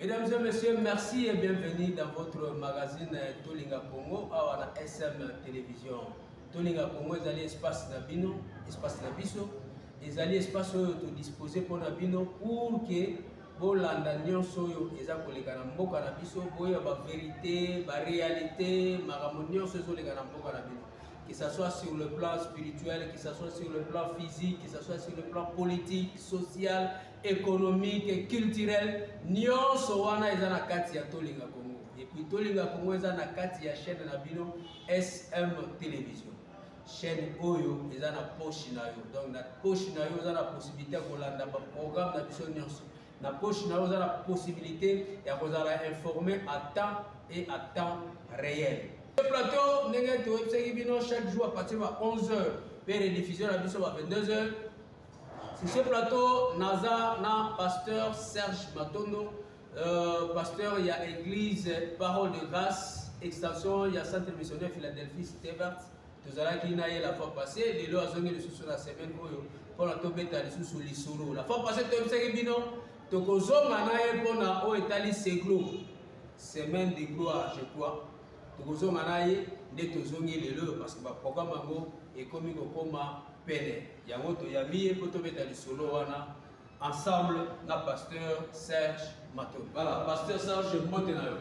Mesdames et messieurs, merci et bienvenue dans votre magazine Tolinga Congo awa na SM Télévision. Tolinga Congo ezali espace na bino, espace na biso, ezali espace oyo to disposer mpo na bino pour que bolanda nyonso oyo eza koleka na mboka na biso, boya ba verité, ba réalité, makambo nyonso ezoleka na mboka na bino. Que ça soit sur le plan spirituel, que ça soit sur le plan physique, que ça soit sur le plan politique, social, economique culturel nionso wana eza na kati ya tolinga congo epuis tolinga congo eza na kati ya chaîne na bino sm télévision chaîne oyo eza na poche na yo donc na poche na yo oza na possibilité ya kolanda baprogramme na biso nyonso na poche na yo oza na possibilité ya kozala informe à temps et à temps réel plateau ndenge toyebisaki bino chaque jour à partir ya 11 heures mpe rediffusion na biso ba 22 heures Sur ce plateau, Naza na pasteur Serge Matondo, euh, pasteur il y a église Parole de Grâce, extension il y a centre missionnaire Philadelphie Stevart. tozalaki na ye la fois passé lelo azongi lisusu na semaine oyo mpona tobeta lisusu lisolo la fois passé toyebisaki bino tokozonga na ye mpona oyo etali seglo semaine de gloire je crois tokozonga na ye nde tozongi lelo parce que baprogramme yango ekomi kokoma pene yango toyambi ye mpo tobeta lisolo wana ensemble na pasteur serge mato voilà pasteur serge mbote na yo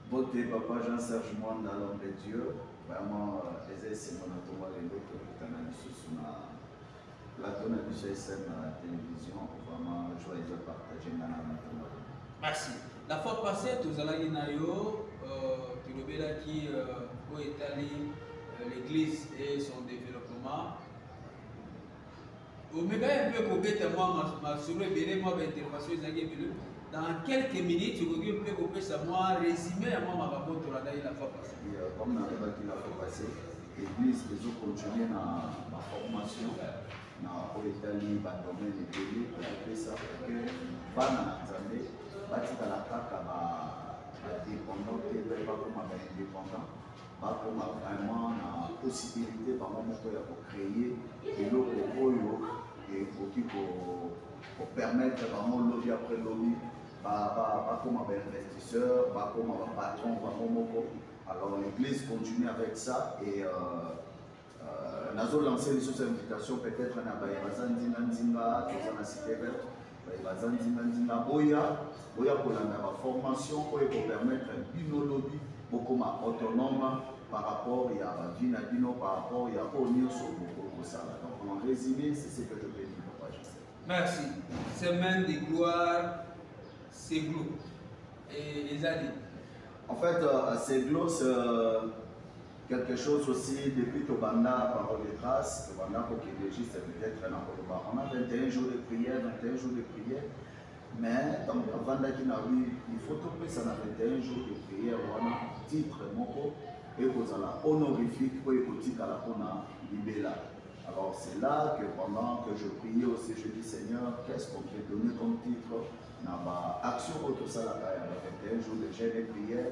mbote papa jean serge mwanda l'homme de dieu vraiment euh, eza esengo na tongo lelo tokutana lisusu na plateau na biso esene na télévision vraiment joie eza partage nga na matongo merci La fois passée tozalaki na yo euh, tolobelaki euh, oyo etali euh, l'église et son développement omekaki mpe kobeta mwa masolo ebele mwa baintervention ezalaki ebele dans quelques minutes okoki mpe kopesa mwa résumé ya mwa makambo tolandaki la fois passée comme nalobaki la fois passée église ezocontinue na baformation na oyo etali badomene ebele kopesa ke bana na nzambe batikala kaka badépendant te mpe bakoma baindépendant bakoma vraiment na possibilité bango moko ya kocreye eloko oyo ekoki kopermettre bango lobi après lobi bakoma bainvestisseur bakoma bapatron bango moko alors l'église continue avec ça et euh, Euh, nazo lancer lisusu invitation peut-être na baye baza nzinga nzinga toza na cité verte baye baza nzinga nzinga boya boya kolanda baformation oyo ekopermettre bino lobi bokoma autonome par rapport ya bavie na bino par rapport ya oyo nyonso bokoki kosala donc en résumé c'est ce que je peux dire papa joseph merci semaine de gloire c'est glo ezali en fait euh, c'est glo euh, quelque chose aussi depuis tobanda parole de grâce tobanda kokende juste peut-être na koloba on a 21 jours de prière 21 jours de prière mais ntango bavandaki na wi il faut topesa na 21 jours de prière wana titre moko ekozala honorifique oyo ekotikala mpona libela alors c'est là que pendant que je priais aussi je dis seigneur qu'est-ce qu'on peut donner comme titre na baaction oyo tosalaka ya ba 21 jours de jeune et prière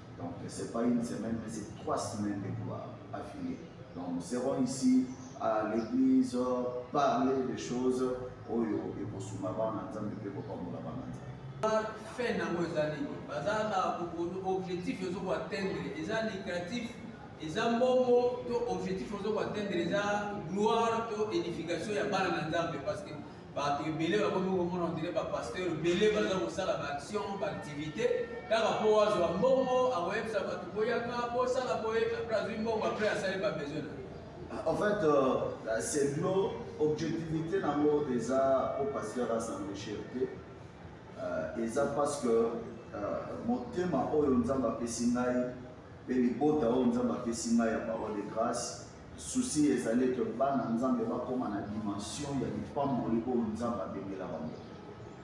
Donc c'est pas une semaine, mais c'est trois semaines de gloire affilées. Donc nous serons ici à l'église parler des choses oyo ekosuma bana nzambe mpe kopambola bana nzambe fin nango eza nini baza na objectif ezo koatteindre eza lucratif eza mbongo to objectif ozo koatteindre eza gloire to édification ya bana na nzambe parce que bato ebele bakomi komona ondire bapasteur ebele baza kosala baaction baaktivité kaka mpo wazwa mbongo akoyebisa bato boyaka bosala boye apres azwi mbongo apres asali babesoin na ah, En fait, euh, c'est de l'eau, objectivité dans l'eau déjà au pasteur à s'enrichir. Euh, et ça parce que euh, mon thème, oh, nous avons fait Sinaï, et les beaux, nous avons fait Sinaï à parole de grâce. Souci ezali ete bana Nzambe bakoma na dimension ya lipamboli oyo Nzambe abengela bango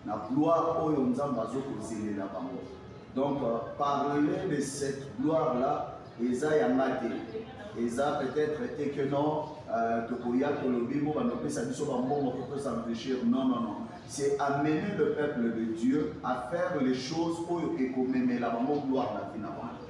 na gloire oyo Nzambe azokozelela bango donc euh, parler de cette gloire là eza yanga te eza peut-être te que non euh, tokoya tolobi mpo bandopesa biso bambongo mpo tosenrichir non non non c'est amener le peuple de dieu à faire les choses oyo ekomemela bango gloire na vie na bango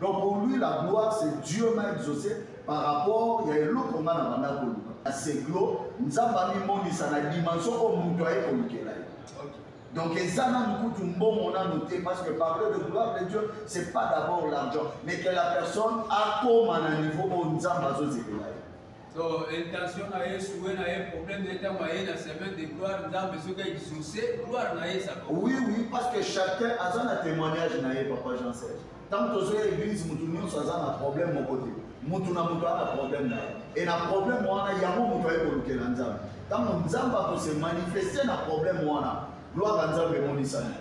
Donc pour lui, la gloire, c'est Dieu m'a exaucé par rapport ya eloko nga na banda koluka na seglo nzambe amimonisa na dimension oyo moto aye kolukela ye donc eza nanu kutu mbongo nanu te parce que parler de gloire de dieu c'est pas d'abord l'argent mais que la personne akoma na niveau oyo nzambe azozela So, intention na ye souhait na ye problème na ye ntango aye na semaine de gloire nzambe soki exauce gloire na ye ezaka oui oui parce que chacun aza na témoignage na ye papa jean serge ntango tozoya église motu nyonso aza na problème moko te motu na motu aza na problème na ye e na problème wana yango motu aye kolukela nzambe ntango nzambe akose manifeste na problème wana gloire ya nzambe emonisani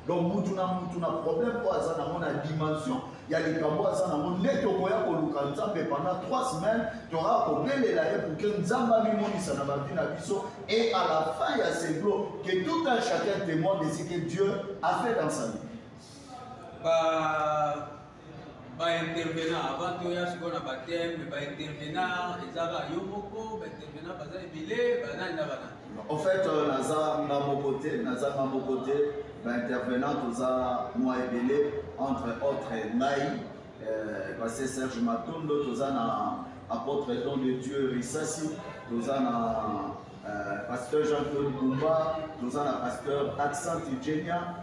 donc mutu na mutu na problème oyo aza nango na dimension ya likambo oyo aza nango nde tokoya koluka nzambe pendant 3 semaine toraa kobelela ye pourke nzambe amimonisa na bavi na biso et à la fin ya seglo que tout un chacun témoin de ce que dieu a fait dans sa vie ba baintervenant avant toya sikoyo na bateme baintervenant ezaka yo moko baintervenant baza ebele banani na banani en fait euh, naza nga moko te naza nga moko te baintervenant toza mwa ebele entre autre ngai euh, base serge matondo toza na apôtre don de dieu risasi toza na euh, pasteur jean claude bumba toza na pasteur accent igenia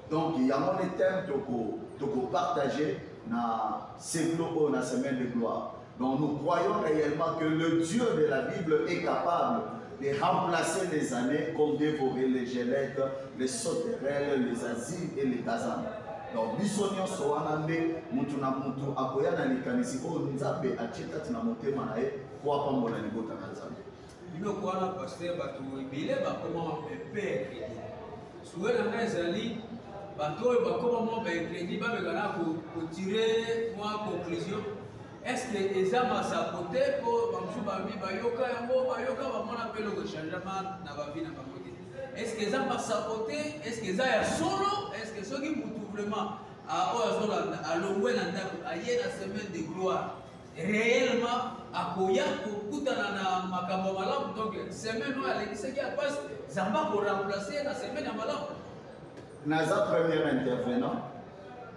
donc yango nde teme tokopartage na seklo oyo na semaine de gloire donc nous croyons réellement que le dieu de la bible est capable de remplacer les années comme dévorer les gelettes les sauterelles les asiles et les kazana donc biso nyonso wana nde motu na motu akoya na likanisi oyo nzambe atie kati na motema na ye mpo apambola libota na nzambe biloko wana paster bato ebele bakoma pepe ya kredi suwe na ngai ezali bato oyo bakoma mwa baekredi bameka na kotire mwa conclusion estce eza masapo te mpo bamosusu babi bayoka yango bayoka bamona mpe eloko changema na bavi na bango te estce eza masapo te estce eza ya solo estce soki motu vraiment ah, oyo azolanda alongwe na ndako aye na semaine de gloire réellement akoya kokutana na makambo malamu donc semaine oyo alekisaki ya pasi zamba koremplace ye na semaine ya malamu naza première intervenant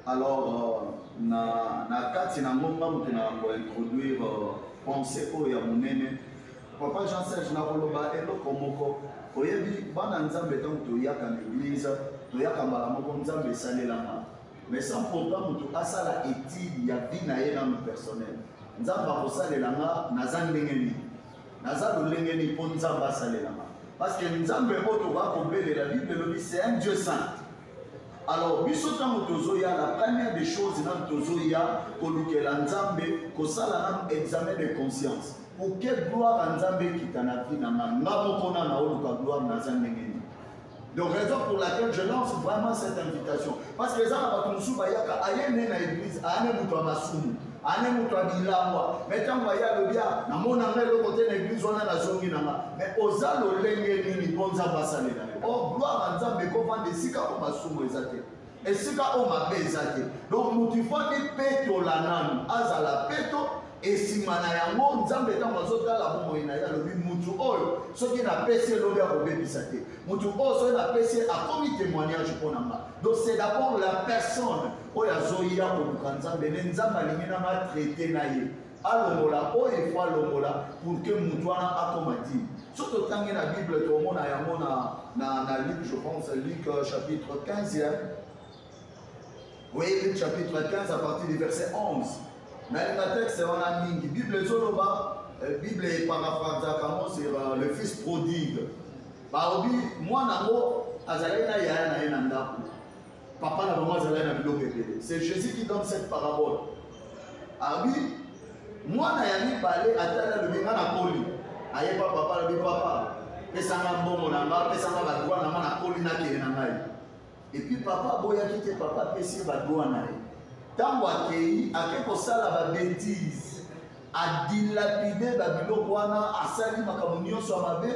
alors euh, na, na kati na ngonga moto na kointroduire euh, pensée oyo ya monene papa jean serge nakoloba eloko moko oyebi bana nzambe ntango toyaka na eglize toyaka mbala moko nzambe esalelama mais sans pourtant moto asala étude ya vie na ye nano personnel nzambe akosalela nga naza ndenge nini naza lolenge nini mpo nzambe asalela nga parce que nzambe oyo tokoka kobelela bible elobi c'est un dieu saint alors biso ntango tozoya la première des choses nano tozoya kolukela nzambe kosala nano examen de conscience pour que gloire ya nzambe ekita na vie na nga nga moko na naoluka gloire naza ndenge nini Donc raison pour laquelle je lance vraiment cette invitation. Parce que ezala bato mosusu bayaka aye nde na église aane moto ya masumu aane moto ya bilangwa me ntango aye alobi a namona nga eloko te na église wana nazongi na nga me oza lolenge nini mpo nzambe asalela yo o oh, gloire ya nzambe ekovanda esika mpo masumu eza te esika oyo mabe eza te donc moto ifo amipetola nanu azala peto esima na yango nzambe ntango azotala bomoi na ye alobi motu oyo soki napesi elobi akobebisa te motu oyo soki napesi akomi témoignage mpo na nga donc c'est d'abord la personne oyo azoya koluka nzambe nde nzambe alingi nanga traite na ye alongola oyo efo alongola pour que motu wana akoma dime soki totangi na bible tomona yango na, na, na luc je pense luc euh, chapitre 15 hein? oui luc chapitre 15 à partir du verset 11 nalinga texte wana mingi bible ezoloba euh, bible eparafrazaka yango sur euh, le fils prodigue baobi mwana yango azalaki na yaya na ye na ndako papa na bango azalaki na biloko ebele c'est jésus qui donne cette parabole abi mwana ya mibale atali alobi nga nakoli ayeba papa alobi papa pesanga mbongo na nga pesanga badwa na nga nakoli nakende na ngai epuis papa aboyaki te papa apesi ye badwa na ye ntango akei ake kosala babetise a dilapide ba biloko wana asali makambo nyonso ya mabe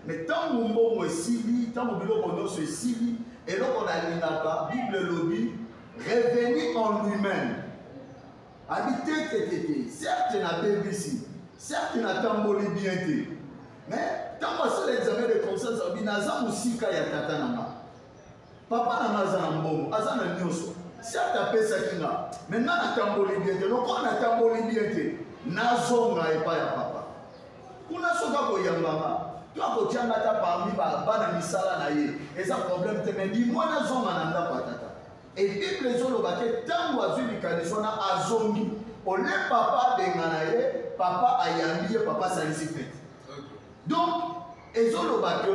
me ntango mbongo esili ntango biloko nyonso esili eloko nalingaka bible elobi revenu en lui-même abi te te te te certe nabebisi certe natamboli bien te mais ntango asala examen de conscience abi naza mosika ya tata na nga papa na nga aza na mbongo aza na nyonso certes apesaki nga me nga natamboli bien te lokola natamboli bien te nazonga epai ya papa kuna soki akoyamba nga to akotya nga ata parmi bana misala na ye eza problème te me limwa nazonga na ndako ya tata e bible ezoloba te ntango azwi likanisi wana azongi ole papa abengana ye papa ayambi ye papa asalisi fete donc ezoloba ke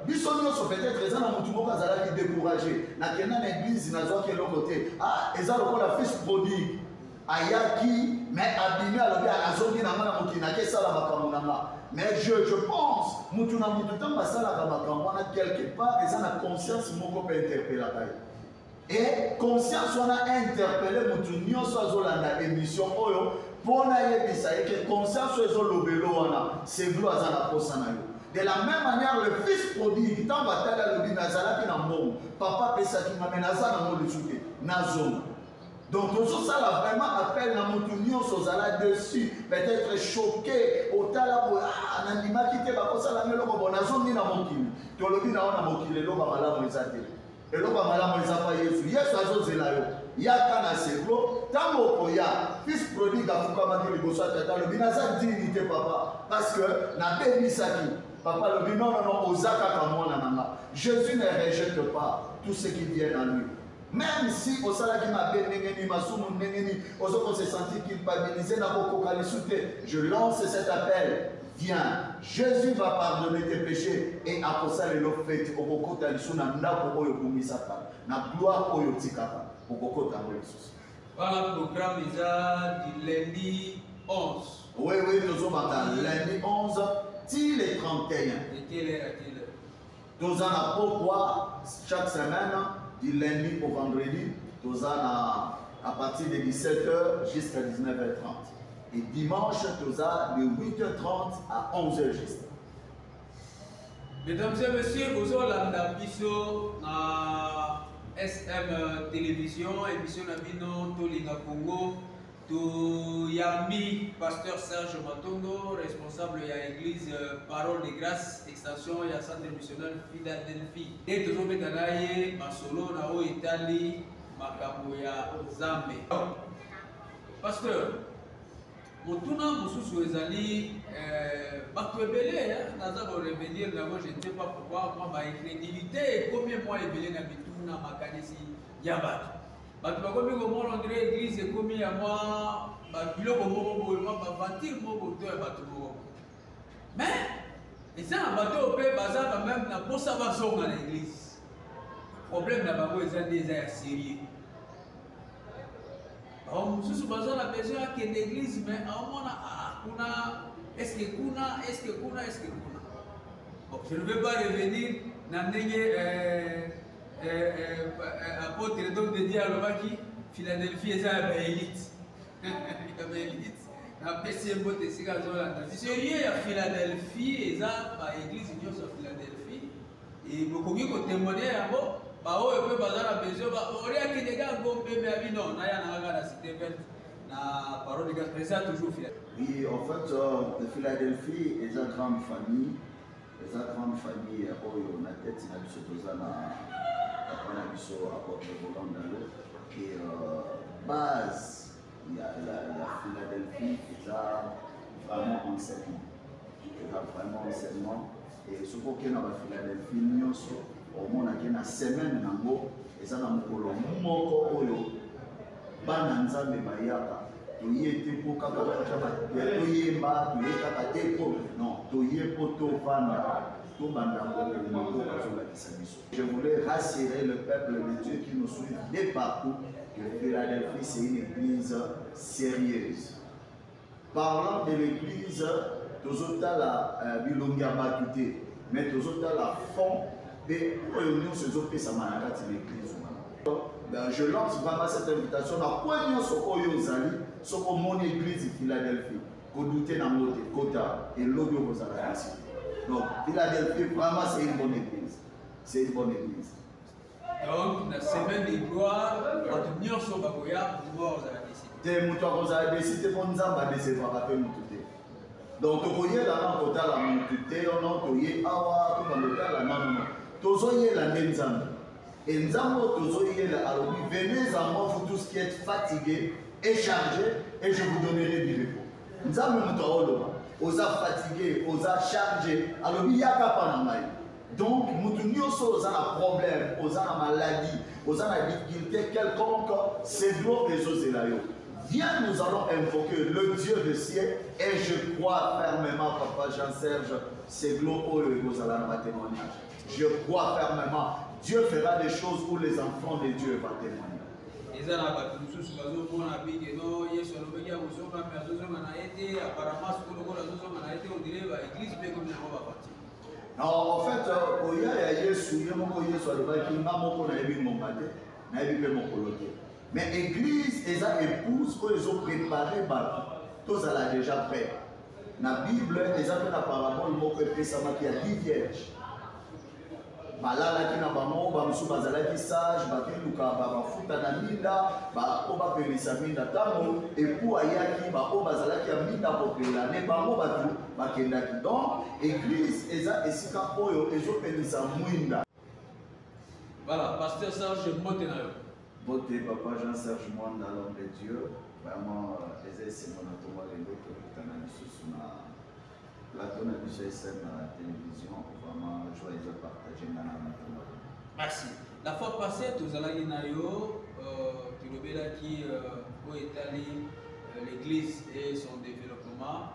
biso nyonso peut-être eza na motu moko azalaki découragé nakenda na église nazwaki eloko te ah eza lokola fils prodigue ayaki mais abimi alobi azongi na nga na mokili nake esala makambo na nga mais je, je pense motu na motu ntango asalaka makambo wana quelque part eza na conscience moko mpe interpellaka ye Et conscience wana interpelle mutu nyoso azolanda émission oyo pona yebisa ye que conscience oyo ezolobelo wana seglo aza na posa na yo de la même manière le fils prodigue ntango atali alobi me azalaki na mbongo papa apesaki nga me naza nango lisu te nazonga donc tozosala vraiment appel na motu nyonso ozala dessus peut-être choqué otala boye ah, nandimaki te bakosala nga eloko bo nazongi na mokili tolobi na yo na mokili eloba malamu eza te eloko ya malamu eza mpa yesu yesu azozela yo yaka na seklo ntango okoya fils prodigue afukamaki liboso ya tata alobi naza dini te papa parce que nabebisaki papa alobi non non non oza kaka mwana na nga jésus ne rejette pas tout ce qui vient à lui même si osalaki mabe ndenge nini masumu ndenge nini ozo ko se sentir culpabilise na kokoka lisu te je lance cet appel Viens, Jésus va pardonner tes péchés et akosala elo fete okokota lisusu na ndako oyo obumisaka na gloire oyo otikaka okokota yango lisusu. Wana programme eza du lundi 11. Oui, oui, tozobanda lundi 11 ti le 31. Etele, etele. toza na pokwa chaque semaine du lundi au vendredi toza na à partir de 17h jusqu'à 19h30 et dimanche toza de 8h30 à 11h juste mesdames et messieurs bozolanda biso na sm télévision émission na bino tolinga congo toyambi pasteur serge matondo responsable ya église euh, parole de grâce extension ya centre missionnaire philadelphie nde tozobeta na ye masolo na oyo etali makambo ya nzambe pasteur motuna mosusu ezali euh, bato ebele eh, naza korevenir nango je ne sais pas pourquoi mwa bainfidélité ekomi mwa ebele na mituna makanisi ya bato bato bakomi komona ondire eglise ekomi ya mwa biloko moko boye mwa bavantire moko to ya bato moko mais eza na bato oyo mpe baza quand même na mposa bazonga na eglise problème na bango eza nde eza ya serieux bango mosusu baza na besoin akende eglise mais aomona ah, kuna eske kuna eske kuna eske kuna bon je ne veux pas revenir na ndenge euh, eh, eh, eh, apotre donc de dieu alobaki philadelphie eza ya baelite ya baelite napesi ye mbote esika azolanda serie ya philadelphie eza baeglise nyonso ya philadelphie e, bokoki kotemoigne yango baoyo mpe baza na besoin baoriaki ndenge agombeme ya bino naya na kaka na cité verte na parole gaspre eza toujours philadelphie oui en fait euh, philadelphie eza grande famille eza grande famille ya oyo na tete na biso toza na papa na biso apotre volant dalo ke euh, base ya, ya, ya philadelphie eza vraiment enseignement eza vraiment enseignement e soki okenda ba philadelphie nyonso omonake na semaine nango eza na mokolo moko oyo bana nzambe bayaka toye te mpo kaka toyemba toye kaka te mpo non toye mpo tovanda tobanda koboma mpo bazolakisa biso je voulais rassurer le peuple de dieu qui nous suit de partout que philadelphie c'est une église sérieuse parlant de l'église tozotala euh, bilongi ya bato te mais tozotala fond mpe oyo nyonso ezopesama na kati na église wana je lance vraiment cette invitation na kwe nyonso oyo ozali soki omoni église philadelphie kodute nango te kota elobi okozala kasi donc philadelphie vraiment c'est une bonne église c'est une bonne église donc na semaine de gloire bato nyonso bakoya pouvoir ozala desi te moto akozala desi te mpo nzambe adesevaka mpe moto te donc tokoyela nano kotala moto te ono toye awa tokando otala nanono tozoyela nde nzambe e nzambe oyo tozoyela alobi venez en moi vous tous qui êtes fatigué et chargé et je vous donnerai du repos nzambe moto aoloba oza fatigué oza chargé alobi yaka mpa na ngai donc mutu nyonso oyo oza na problème oza na maladie oza na difficulté quelconque cedro ezozela yo viens nous allons invoquer le dieu de ciel et je crois fermement papa jean serge cedro oyo ekozala na batémoignage je crois fermement dieu fera des choses où les enfants de dieu va témoigner eza na bato mosusu bazomona bike no yesu alobaki akozonga mpe azozonga na ye te apparemment soko lokola azozonga na ye te ondire baeglise mpe ekomi yango baparti Non, en fait, euh, koya ya Yesu, ye moko Yesu alobaki nga moko nayebi ngonga te, nayebi mpe mokolo te. Mais église eza épouse oyo ezo préparer bato, tozala déjà prêt. Na Bible eza mpe na parabole moko epesamaki ya 10 vierge. balalaki na bango bamosusu bazalaki sage bakeluka bamafuta na minda baoyo bapelisa minda ntango epu ayaki baoyo bazalaki ya minda kopela ne bango bato bakendaki donc eglise eza esika oyo ezopelisa mwinda voilà pasteur serge mbote na yo mbote papa jean serge mwanda l'homme de dieu vraiment euh, eza esengo na tongo lelo tokutana lisusu na plateau na biso esn na télévision vraiment joie eza partage nga na matongo merci la fois passée tozalaki na yo euh, tolobelaki euh, oyo etali l'église et son développement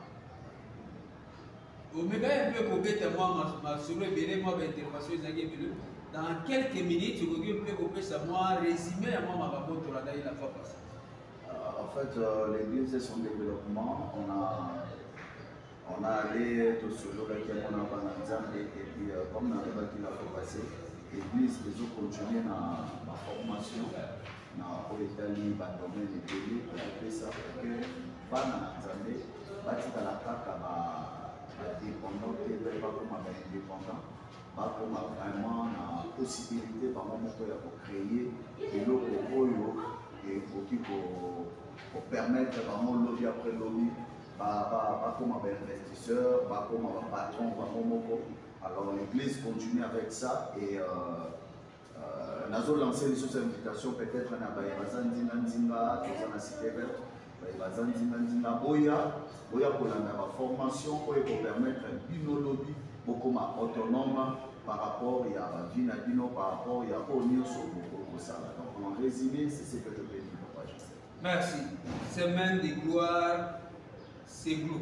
omekaki mpe kobeta mwa masolo ebele mwa baintervention ezalaki ebele dans quelques minutes okoki mpe kopesa mwa résumé ya mwa makambo tolandaki la fois passé euh, en fait euh, l'église et son développement on a on a allé tosololaki yango na bana nzambe et puis euh, comme nalobaki la fois passé l'église ezocontinue na baformation na oyo etali badomene ebele kopesa ke bana na nzambe batikala kaka badépendant te mpe bakoma baindépendant bakoma vraiment na possibilité bango moko ya kocreye eloko oyo ekoki kopermettre bango lobi après lobi bakoma bainvestisseur bakoma bapatron bango moko alors l'église continue avec ça et euh, Euh, nazo lancer lisusu invitation peut-être na baye baza nzinga nzinga toza na cité verte baye baza nzinga nzinga boya boya kolanda baformation oyo ekopermettre bino lobi bokoma autonome par rapport ya bavie na bino par rapport ya oyo nyonso bokoki kosala donc en résumé c'est ce que je peux dire papa merci semaine de gloire c'est gloire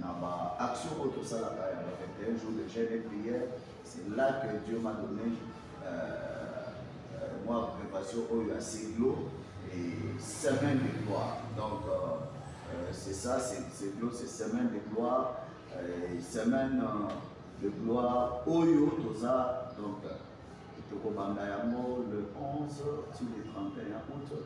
na ba action oyo tosalaka ya ba 21 jours de jeûne et prière c'est là que dieu m'a donné euh, euh, mwa préparation oyo ya seglo et semaine de gloire donc euh, euh, c'est ça c'est seglo c'est semaine de gloire euh, semaine euh, de gloire oyo toza donc tokobanda yango le 11 sur le 31 août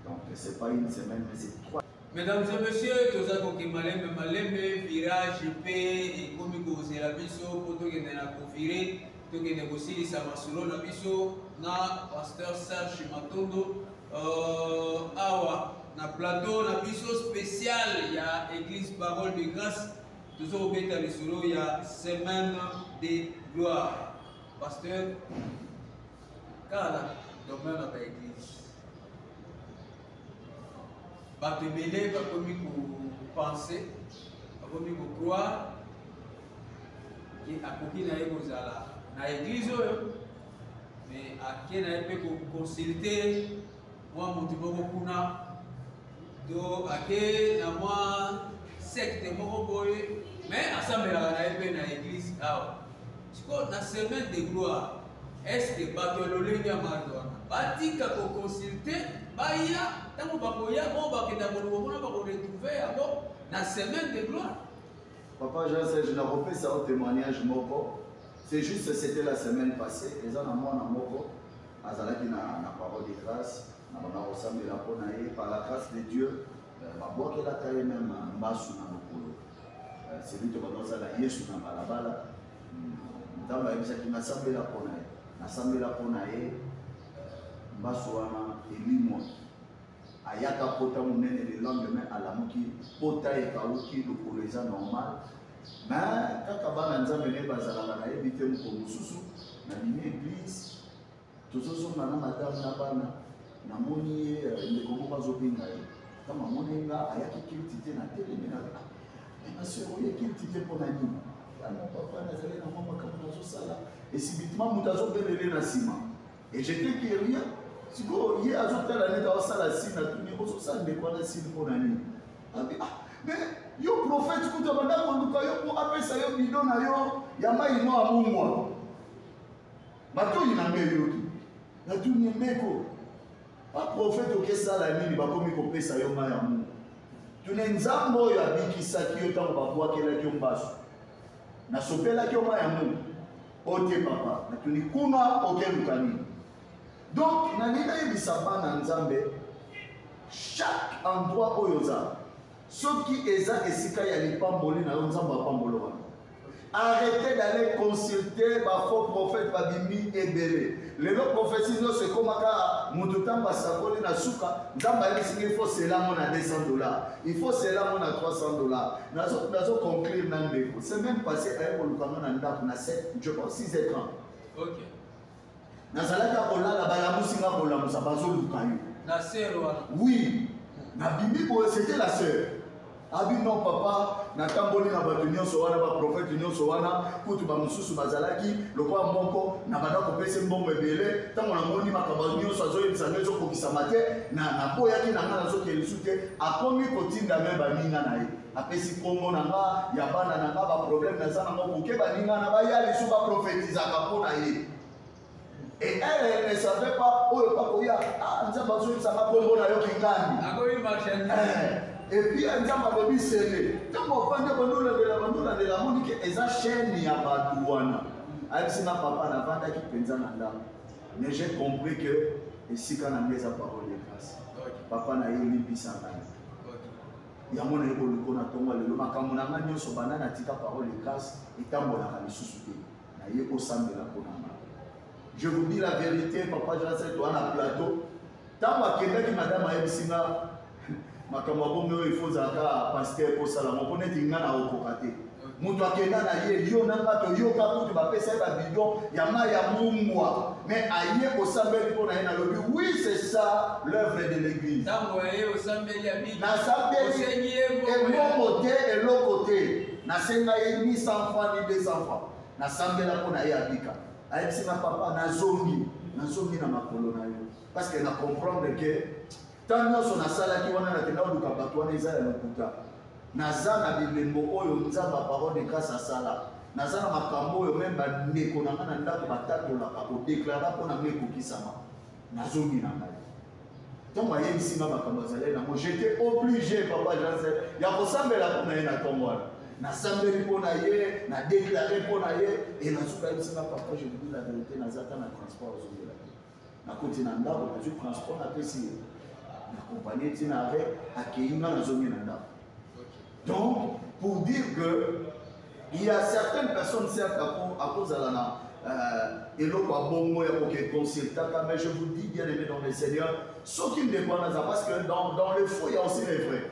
donc c'est pas une semaine mais c'est trois Mesdames et messieurs, toza koke malembe malembe virage pe ekomi kozela biso po tokende na kovire tokende kosilisa masolo na biso na pasteur Serge Matondo euh, awa na plateau na biso spécial ya église parole de grâce tozo kobeta lisolo ya semaine de gloire pasteur kala domaine na ba église bato ebele bakomi kopense bakomi kocroire akoki na ye kozala na eglize oyo me ake na ye mpe koconsulte mwa moto moko kuna to ake na mwa sekte moko boye me asambelaka na ye mpe na eglize awa Sikoyo na semaine de gloire est-ce que bato ya lolenge ya mardo wana batika koconsulte baya ntango bakoya oyo bakenda koloba kuna bakoretrouve yango na semaine de gloire papa jean serge nakopesa yo témoignage moko c'est juste c'était la semaine passée eza na mwana moko azalaki na, na parole de grâce na banda kosambela mpo na ye par la grâce de dieu euh, babwakelaka ye meme mbasu na mokolo Selito bana ozala Yesu na balabala ntango ayebisaki nasambela mpo na ye nasambela mpo na ye mbasu wana elimwa ayaka pota monene le lendemain alamuki pota ekauki lokolo eza normal me kaka bana nzambe naye bazalaka nayebi te mokolo mosusu na bimi eglise tozozonga na madame na bana namoni ye euh, ndeko moko azobenga ye ntango amoni nga ayaki kilti te na telemi na maseur oye kilti te mpo na nini yango papa nazali na mwa makambo nazosala esibitima moto azobelele na nsima et j'étais curieux sikoyo ye azotala neti aosala sine atuni ozosala ndeko wana sine mpo na nini abi ah mais yo prophète kutu abanda koluka yo mpo apesa yo bido na yo ya mai mwa mungwa Matoi na ngai eyoki. Natuni ye meko. Baprofete okesala nini bakomi kopesa yo mai ya mungu? Tune Nzambe oyo abikisaki yo ntango babwakelaki yo mbasu. Nasopelaki yo mai ya mungu. Ote papa. Natuni kuna okeluka nini? Donc nalingi nayebisa bana Nzambe chaque endroit oyo ozala soki eza esika ya lipamboli na yo nzambe apambolo wana arrete d'aller consulter bafaux prophète babimi ebele lelo prophétie nyonso ekomaka moto ntango asakoli na suka nzambe ayebisinga ifo selango na 200 dollar ifo selango na 300 dollar nazo conclure na ndeko se même passé aye kolukanga na ndako na 7 je pense 6 heures 30 okay. nazalaki ya kolala balamusi nga kolamusa bazoluka yo la sœur wana oui nabimi boye c'était la sœur abi ah non papa natamboli na bato nyonso wana baprofete nyonso wana kutu bamosusu bazalaki lokola moko na banda kopesa mbongo ebele ntango namoni makambo nyonso azoyebisa ngai ezokokisama te naboyaki na ngai nazokende lisu te akomi kotinda me baninga na ye napesi nkombo na nga ya bana na nga baproblème naza nango moke baninga na baya lisu baprofetizaka mpo na ye et elle elle ne savait pas oyo bakoya ah, nzambe azoyebisaka nkombo na yo kingani eh, epuis eh, nzambe alobi sele ntango afandi bandolandela bandolandela amoni ke eza chaîne ya bato wana ayebisi nga papa navandaki mpenza na ndako mais j'ai compris que esika na ngai eza parole de grâce papa na ye olimbisa ngai yango naye koliko na ntongo lelo makambo na ngai nyonso banda na tika parole de grâce etambolaka lisusu te naye kosambela mpo na ngai je vous dis la vérité papa jacet wana plateau ntango akendaki madame ayebisi nga makambo ya bongo oyo ifo ozalaka paster kosala moko neti nga na okoka te moto akenda na ye yo na nga toyoka kutu bapesa ye babidon ya mai ya mungwa mais aye osambeli mpo na ye nalobi oui c'est ça l'œuvre de l'église nasambeli emongo te eloko te nasenga ye ni 100 franc ni 200 franc nasambela mpo na ye abika ayebisi na papa nazongi nazongi na makolo na yo parce que na comprendre que Ntango nyonso nasalaki wana, nakenda koluka bato wana, eza ya lokuta. Naza na bilembo oyo Nzambe ya parole de grâce asala. Naza na makambo oyo meme bandeko na ngai na ndako batatolaka, kodeklara mpo na ngai ekokisama. Nazongi na ngai. Ntango ayebisi ngai makambo azalaki nango, j'étais obligé, papa Jansen, ya kosambela mpo na ye na ntongo wana. Nasambeli mpo na ye, nadeklare mpo na ye, e nazoka yebisi ngai, papa, je vous dis la vérité, naza ata na transport ozongela. nakoti na ndako nazwi transport napesi ye nakompanie ti na arret akei nga nazongi na ndako donc pour dire que il y a certaines personnes certes akozala na euh, eloko ya bongo ya koke consultaka mais je vous dis bien aimé dans le seigneur soki ndeko wana aza parce que dans, dans le faux ya aussi le vrai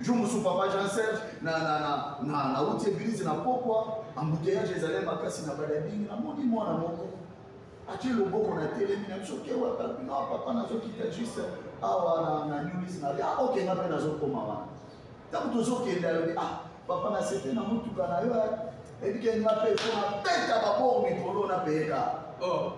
jour mosusu papa jean serge nauti eglise na pokwa embouteillage ezali makasi na badabingi namoni mwana moko atie loboko na telemi na biso kewataino papa nazokita juste awa na nulise na ya ah, oke nga mpe nazokoma wana ntango tozokenda alobi ah papa na sete na motuka na yo ebike nga mpe mpo nabeta babor mikolo na peyeka oh.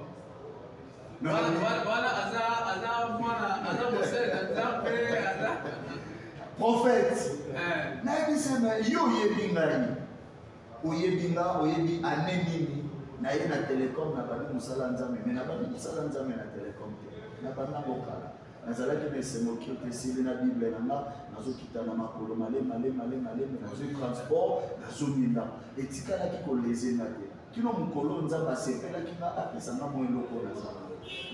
prophète eh. nayebi se na yo oyebi ngai oyebi nga oyebi ane nini naye na telecom nabandi mosala nzambe me nabandi mosala nzambe na telecom te nabanda bokala nazalaki na esengo kio te esili na bible na nga nazokita na makolo malemalemalemaleme nazwi transport nazongi ndako etikalaki koleze nga te kino mokolo oyo nzambe asepelaki nga apesa nga mwa eloko oyo naza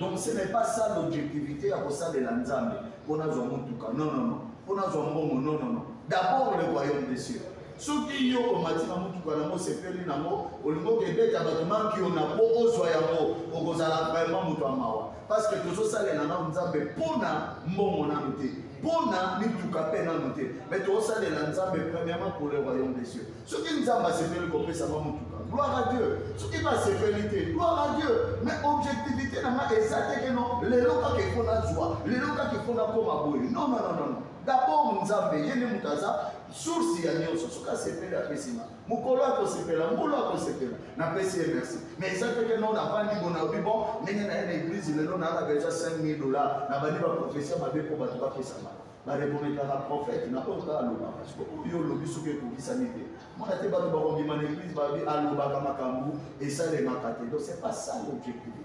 donc ce n'est pas ça l'objectivité ya kosalela nzambe mpo nazwa motuka non non non mpo nazwa mbongo non non non d'abord le royaume des cieux soki yo omati na motuka nango osepeli nango olingi okebeta bato mankiona mpo ozwa yango okozala vraiment moto ya mawa parce que tozosalela nao nzambe mpo na mbongo nano te mpo na mituka mpe nano te mais tozosalela nzambe premièrement pour le royaume des cieux soki nzambe asepeli kopesa nga motuka gloire à dieu soki basepeli te gloire à dieu mais objectivité na nga eza te keno lelo kaka efo nazwa lelo kaka efo nakoma boye non non non non d'abord nzambe ye nde moto aza source ya nyonso soki asepeli apesi nga mokolo akosepela mbolo akosepela napesi ye merci mais eza te keno navandi bona obi bon ndenge na ye na eglise lelo nalaka eza 5000 dollars nabandi baprofesio mabe mpo bato bapesanga barekometaka profete na oyo kaka alobaka siko oyo olobi soki ekokisami te mona te bato bakondima na eglise babi alobaka makambo esalemaka te donc c'est pas ça l'objectif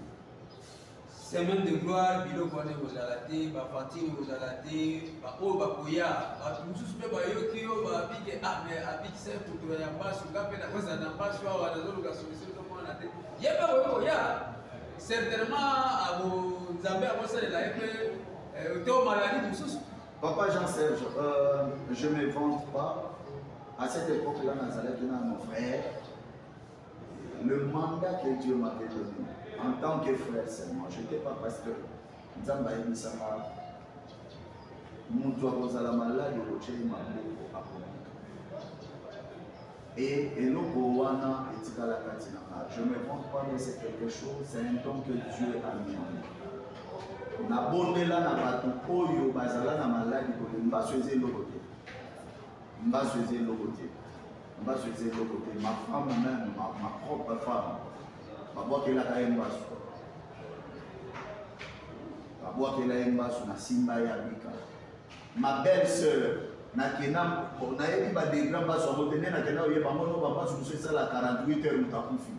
semaine de gloire biloko wana ekozala te bavantine ekozala te baoyo bakoya bato mosusu mpe bayoki yo babike ah, ame abikisa eputula ya mpaso nga mpe nakozala na mpaso awa nazoluka solution tomonana te ye mpe oyo koya certainement ako nzambe akosalela ye mpe Euh, to maladie mosusu papa jean serge euh, je me vante pas à cette époque là nazalaki na mon frère le mandat que dieu m'avait donné en tant que frère seulement je n'étais pas pasteur nzambe ayebisaka moto akozala maladi okotyei maboko akomika Et eloko wana etikala kati na nga je me vante pas de c'est quelque chose c'est un don que dieu a mis en nabondela na bato oyo bazala na maladi kote mbaso eza eloko te mbaso eza eloko te mbaso eza eloko te ma femme même ma, ma propre femme babwakelaka ye mbaso babwakela ye mbaso na simba ye abika ma belle sœur nakenda nayebi badegra mpasi yango te nde nakenda oyeba ngo no bampasi mosusu esala 48 heure moto akufi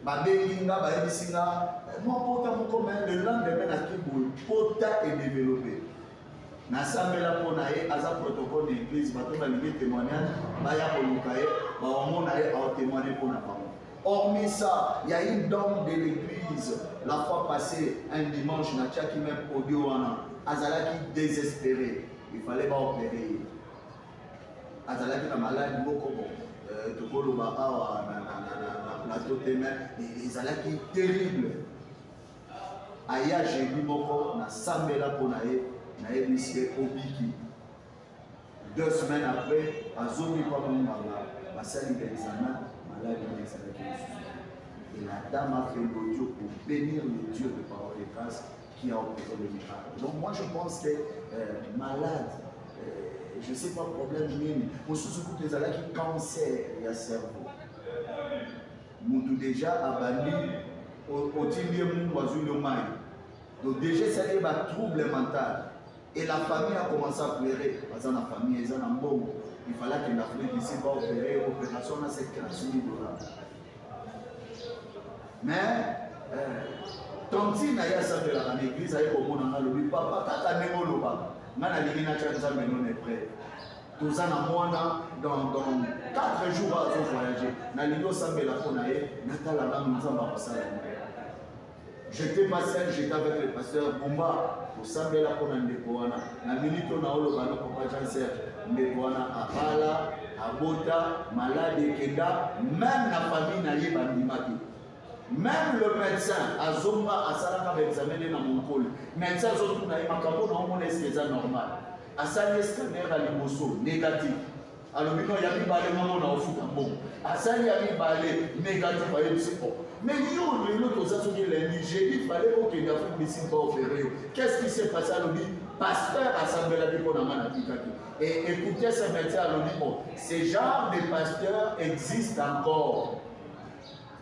babengi nga bayebisi nga eh, mwa pota moko me le lendemain nakiboye pota edevelope nasambela mpo na ye aza protocole na eglise bato balingi témoignage baya koluka ye bawamona ye aotémoigne mpo na bango Hormis ça, il y a une dame de l'église, la fois passée, un dimanche, na tchaki même audio wana, azalaki désespéré. Il fallait pas opérer. Azalaki na malade moko bon. Euh, tokoloba awa na, na, na, na, na plateau te mais ezalaki terrible aya jeudi moko nasambela mpo na ye nayebisi ye obiki Deux semaines après, azongi mpo amonganga basali ba examen maladi na ezalaki lisusu. Et la dame a fait l'audio pour bénir le Dieu de parole et grâce qui a opéré le miracle. Donc moi je pense que euh, malade, euh, je ne sais pas problème nini, mosusu kutu ezalaki cancer ya cerveau. Mutu déjà abandi otindi ye mungu azwi yo mai. Donc déjà esali ye ba trouble mental. et la famille a commencé à pleurer baza na famille eza na mbongo il fallait akende afrique du sud baopere opération na 7 mille dollars mais euh, tantine aye asambelaka na église aye komona nga lobi papa kaka ndenge olobaka nga nalingi natya nzambe none près toza na mwana dans 4 jours azovoyage nalingi osambela mpo na ye natala nanu nzambe akosala J'étais pas seul, j'étais avec le pasteur Bumba kosambela mpo na ndeko wana na minute oyo naoloba no papa jean serge ndeko wana abala abota maladi ekenda meme na famille na ye bandimaki meme le médecin azonga asalaka baexamen ne na monkoli médecin azotuna ye makambo na omona eske eza normal asali escanere ya liboso négatif alobi no ya mibale moko na ofuta mbongo asali ya mibale negatif ayebisi o mais yo lelo toza soki elandi jeudi fale okende afrique du sud baopere yo qu'est ce qui s'est passé alobi pasteur asambelaki mpo na nga natikaki e écoute ce médecin alobi o ce genre de pasteur existe encore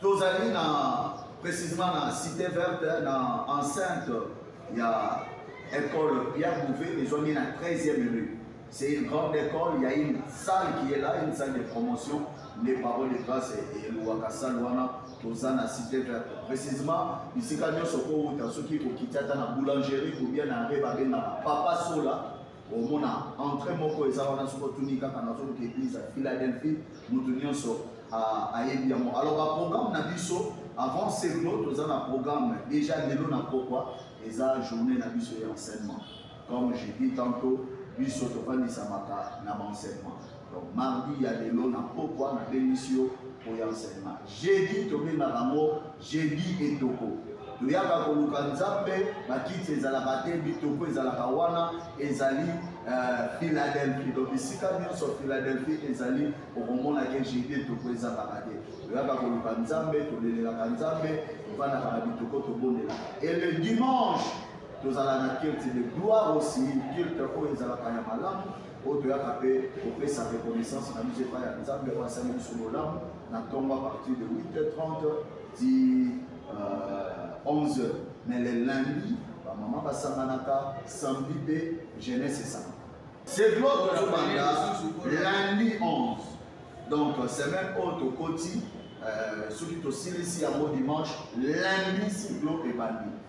tozali na précisément na cité verte na enceinte ya école pierre bouvet ezwami na 13e rue c'est une grande école il y a une salle qui est là une salle de promotion les paroles de grâce eluwaka salle wana toza na cité verte précisément bisika nyonso kowuta soki okiti ata na boulangerie ou bien na re babengaka papa sola omona entrée moko eza wana soki otuni kaka nazoluka église ya philadelphie moto nyonso ayebi yango alors baprogramme na biso avant seglo toza na programme déjà lelo na pokwa eza journée na biso ya enseignement comme je dis tantôt biso tofandisamaka na baenseignement Donc mardi ya lelo na pokwa na bengisi yo pour enseignement. Jeudi tobengaka yango jeudi etoko. toyaka koluka nzambe bakiti ezalaka te bitoko ezalaka wana ezali euh, philadelphie donc bisika nyonso philadelphie ezali okomona ke jide toko ezalaka te toyaka koluka nzambe tolelelaka nzambe tofandaka na bitoko tobondelaka et le dimanche tozala na kirte de gloire aussi kirte oyo ezalaka ya malamu oyo toyaka mpe kopesa reconnaissance na biso epai ya nzambe oyo asali biso bolamu na ntongo a partir de 8h30 ti uh, 11h mais le lundi bamama basanganaka samedi mpe jeunesse esangaka c'est gloire tozobanda lundi 11 donc semaine oyo tokoti euh, soki tosilisi yango dimanche lundi siglo ebandi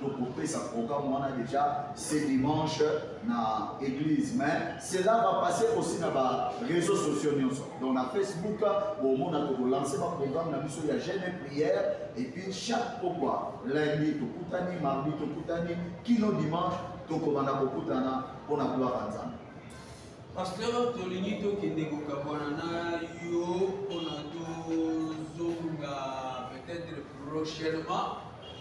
tokopesa programme wana déjà ce dimanche na église mais cela va passer aussi na ba réseaux sociaux nyonso donc na facebook bomona tokolanse ba programme na biso ya jeune et prière et puis chaque pokwa lundi tokutani mardi tokutani kino dimanche tokobanda kokutana mpo na gloire ya nzambe pasteur tolingi tokende kokabwana na yo mpona tozonga peut-être prochainement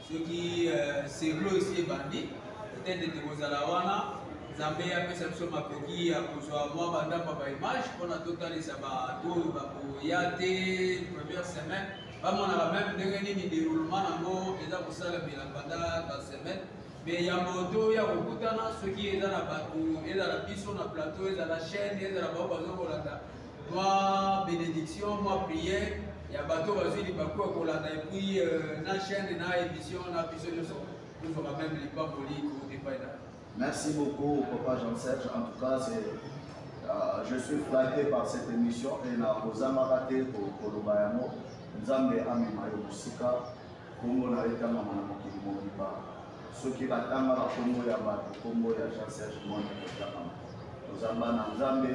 soki euh, seglo esi ebandi peut-être ete kozala wana nzambe apesa biso makoki ya kozwa mwa bandambo baimage mpona totalisa bato oyo bakoya te première semaine bamonaka meme ndenge nini déroulement yango eza kosalamela banda basemaine me yambo toya kokutana soki eza na bato ezala biso na plateau ezala chaîne ezala bao bazokolanda mwa benediction mwa prière ya bato bazwi libaku ya kolanda epuis euh, na chaîne na émission na biso nyonso tozwaka meme lipamboli ko epai na merci beaucoup papa jean serge en tout cas c'est euh, je suis flatté par cette émission et nakozangaka te koloba yango nzambe amema yo mosika nkombo na yo etangama na mokili mobimba soki batangaka nkombo ya bato nkombo ya jean serge mone ekotangama tozamba na nzambe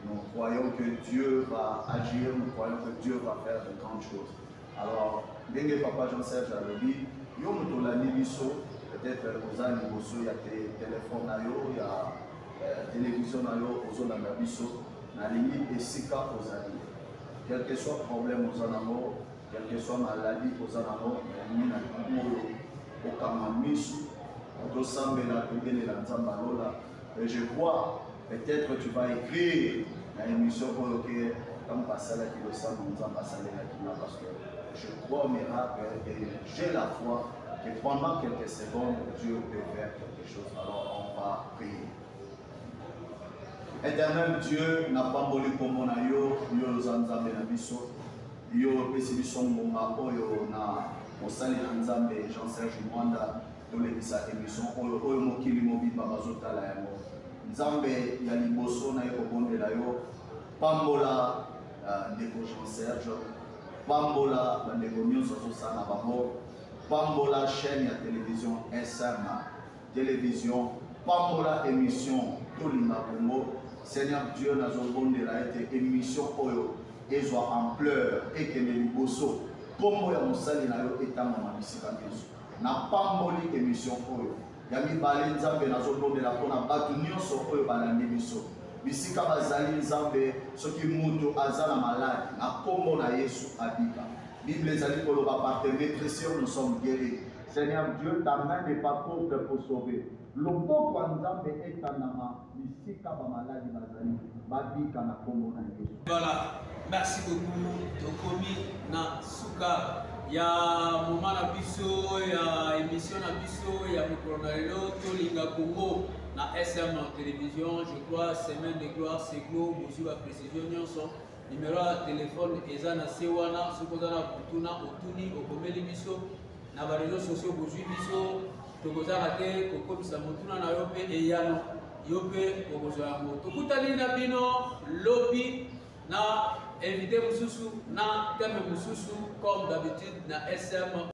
Nous croyons que Dieu va agir, nous croyons que Dieu va faire de grandes choses. Alors, ndenge papa Jean-Serge alobi, yo moto olandi biso, peut-être oza liboso ya telefone na yo, ya euh, télévision na yo, ozolanda biso, nalingi esika ozali. Quel que soit problème oza nango, quel que soit maladie oza nango, nalingi na oyo okanga miso, tozosambela tobelela Nzambe alola, Et je vois, peut-être tu vas écrire na émission oyo ke ntango basalaki losambo nzambe asalelaki nga parce que je crois au miracle et j'ai la foi que pendant quelques secondes Dieu peut faire quelque chose alors on va prier éternel Dieu napamboli nkombo na yo yo oza nzambe na biso yo opesi biso ngonga oyo na mosali na nzambe jean serge mwanda tolekisa emission oyo oyo mokili mobimba bazotala yango nzambe ya liboso naye kobondela yo pambola uh, ndeko jean serge pambola bandeko nyonso azosala bango pambola chaîne ya télévision sm télévision pambola émission tolinga kongo seigneur dieu nazobondela ete émission oyo ezwa ampleur ekende liboso nkombo ya mosali na yo etangama bisika nyonso napamboli emission oyo ya mibale nzambe nazolobela mpona bato nyonso oyo balandi biso bisika bazali nzambe soki moto aza na maladi na nkombo na yesu abika bible ezali koloba par tes metressures nous sommes guéris seigneur dieu ta main n'est pas courte pour sauver Loboko ya nzambe etandama bisika ba maladi bazali babika na kombo na yesu. Voilà, merci beaucoup. Tokomi na suka ya moma na biso ya emission na biso ya mokolo na lelo tolinga Congo na SM télévision. Je crois semaine de gloire c'est glo bozwi ba précision nyonso. Numéro ya téléphone eza na se wana soki oza na kotuna otuni okomeli biso na ba réseaux sociaux bozwi biso tokozaka te kokobisa motuna na yo mpe eyano yo mpe okozwa yango tokutani na bino lobi na invité mosusu na teme mosusu comme d'habitude na sm